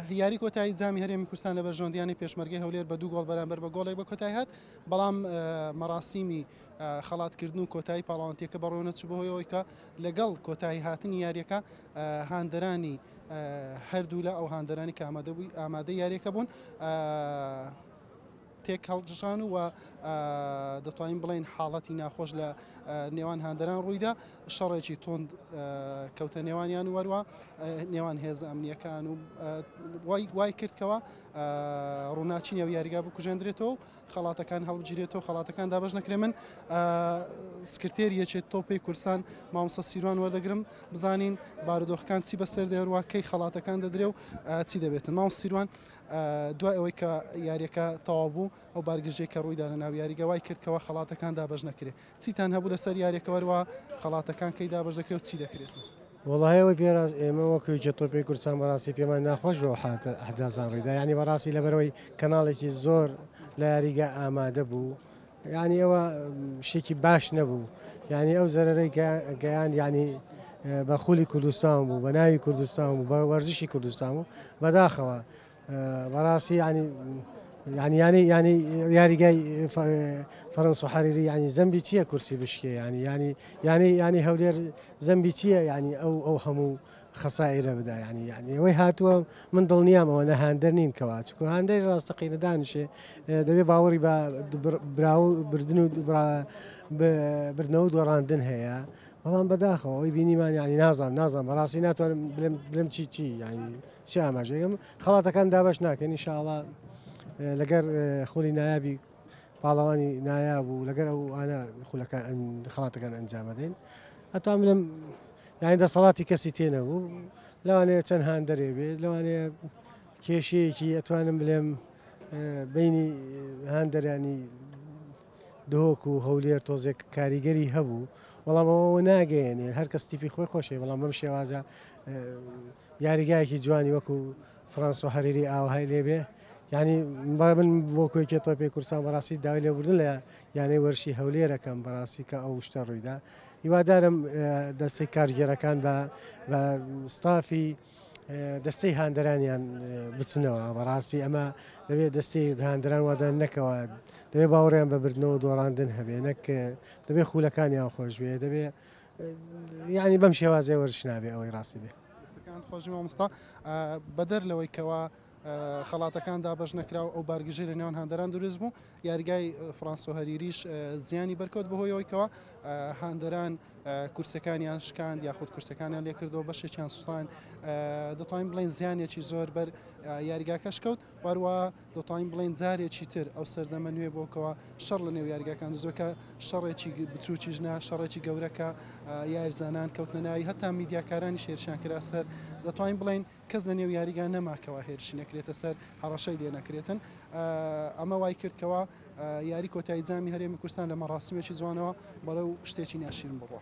یاری کۆتایی جامی هەرێمی کوردستان لە بەرژەوەندییانەی پێشمەرگەی هەولێر بە دوو گۆڵ بەرامبەر بە گۆڵێک بە کۆتایی هات، بەڵام مەراسیمی خەڵاتکردن و کۆتایی پاڵەوانتییەکە بەڕێوەنەچوو بەهۆی ئەوەی کە لەگەڵ کۆتایی هاتنی یارییەکە هاندەرانی هەردوولا ئەو هاندەرانی کە ئامادەبووی ئامادەی یارییەکە بوون تێکهەڵکشان و دەتوانین بڵێین حاڵەتی ناخۆش لە نێوان هاندەران ڕوویدا شەڕێکی تۆند کەوتە نێوانیان و وەروە نێوان هێز ئەمنیەکان و وای کردکەوە ڕووناچی نێو یاریگا بکوژێندرێتەوە خەڵاتەکان هەڵبگیرێتەوە خەڵاتەکان دابش نەکرێ من سکرتێر یەچێت تۆپی کورسان مامسە سیروان وەردەگرم بزانین بارودۆخەکان چی بەسەر دەێروا کەی خەڵاتەکان دەدرێ و چی دەبێتن ماو سیروان دوای ئەوەی کە یاریەکە تەواو بوو ئەو بارگرژەی کە ڕوویدا لە ناو یاریگە وای کرد کەوا خەڵاتەکان دابەش نەکرێت چیتان هەبوو لەسەر یاریەکە وەروا خەڵاتەکان کەی دابەش دەکرێت چی دەکرێت؟ وەڵاهەوەی پێراز ئێمە وەک یەکێ تۆپی کوردستان بەڕاستی پێمان ناخۆش بۆ حدازان ڕیدا ینی بەڕاستی لەبەرەوەی کەناڵێکی زۆر لە یاریگە ئامادە بوو یانی ئەوە شتێکی باش نەبوو یانی ئەو زەرەرەی گەیان یانی بە خولی کوردستان بوو بە ناوی کوردستان و بە وەرزشی کوردستان و بەداخەوە بەڕاستی ینی ینی ینی ینی یاریگای فەرەنس و حەریری ینی زەمبی چییە کورسی بشکێ ینی ینی ینی ینی هەولێر زەمبی چییە ینی ئەو ئەو هەموو خەسائرە بدا یانی یانی ئەوەی هاتووە من دڵنیام ئەوە نە هاندەر نین کەوا چکۆ هاندەری ڕاستەقینە دانیشێ دەبێ باوەڕی بە برا و بردن و بردنەوە دۆڕاندن هەیە بەڵام بەداخەوە ئەوی بینیمان ینی نازان نازان بەڕاستی ناتوانم بلم چی چی ینی چی ئاماژەگەم خەڵاتەکان دابش ناکەن نیشاڵە لەگەر خولی نایابی پاڵەوانی نایاب و لەگەر ئەو ئاە خولەکە خڵاتەکان ئەنجامەدەین ئەتوان بلم یانی دەسەڵاتی کەسی تێ نەبوو لەوانەیە چەند هاندەرێ بێ لەوانەیە کێشەیەکی ئەتوانم بلێم بینی هاندەرانی دهۆک و هەولێر تۆزێک کاریگەری هەبوو بەڵام ئەوەوە ناگەیەنێ هەر کەس تیپی خۆی خۆشی بەڵام بەم شێوازە یاریگایەکی جوانی وەکو فرانس و هەریری ئاوهای لێبێ ینی با من بۆ کۆیکێ تۆپی کورسان بەڕاستی داوای لێبوردن لە یانەی وەرشی هەولێرەکەم بەڕاستی کە ئەو شتە ڕوویدا هیوادارم دەستەی کارگێرەکان بە ستافی دەستەی هاندەرانیان بچنەوە بەڕاستی ئەمە دەبێت دەستی هاندران وادە نەکەوە دەبێت باوەڕیان بە بردنەوە دۆڕاندن هەبێ نەک دەبێت خولەکانیان خۆش بێ دەبێت یعنی بەم شێوازێ وەرشنابێ ئەوەی ڕاستی بێ خۆشی مامستا بەدەر لەوەی کەەوە خەڵاتەکان دابش نەکراو ئەو بارگژێری نێوان هەندەران دروست بوو یاریگای فرانسۆ هەریریش زیانی بەرکەوت بەهۆی ئەوەی کەوا هاندەران کورسەکانیان شکاند یاخود کورسەکانیان لێکردەوە بەشێکیان سوستان دەتوانین بڵێن زیانێکی زۆر بەر یاریگاکەش کەوت واروە دەتوانین بڵێن جارێکی تر ئەو سەردەمە نوێ بۆکەوە شەڕ لە نێو یاریگاکان زۆکە شەڕێکی بچووکیش نا شەڕێکی گەورەکە یارزانان کەوتنە ناوی هەتا میدیاکارانی شێرشان کرا سەر دەتوانین بڵێن کەس لە نێو یاریگا نەما کەوا هێرشی نەکرێتە سەر، هەڕەشەی لێ نەکرێتن. ئەمە وای کرد کەوا یاری کۆتایی جامی هەرێمی کوردستان لە مەڕاسیمێکی جوانەوە بەڕێو شتێکی ناشیرن بڕوا.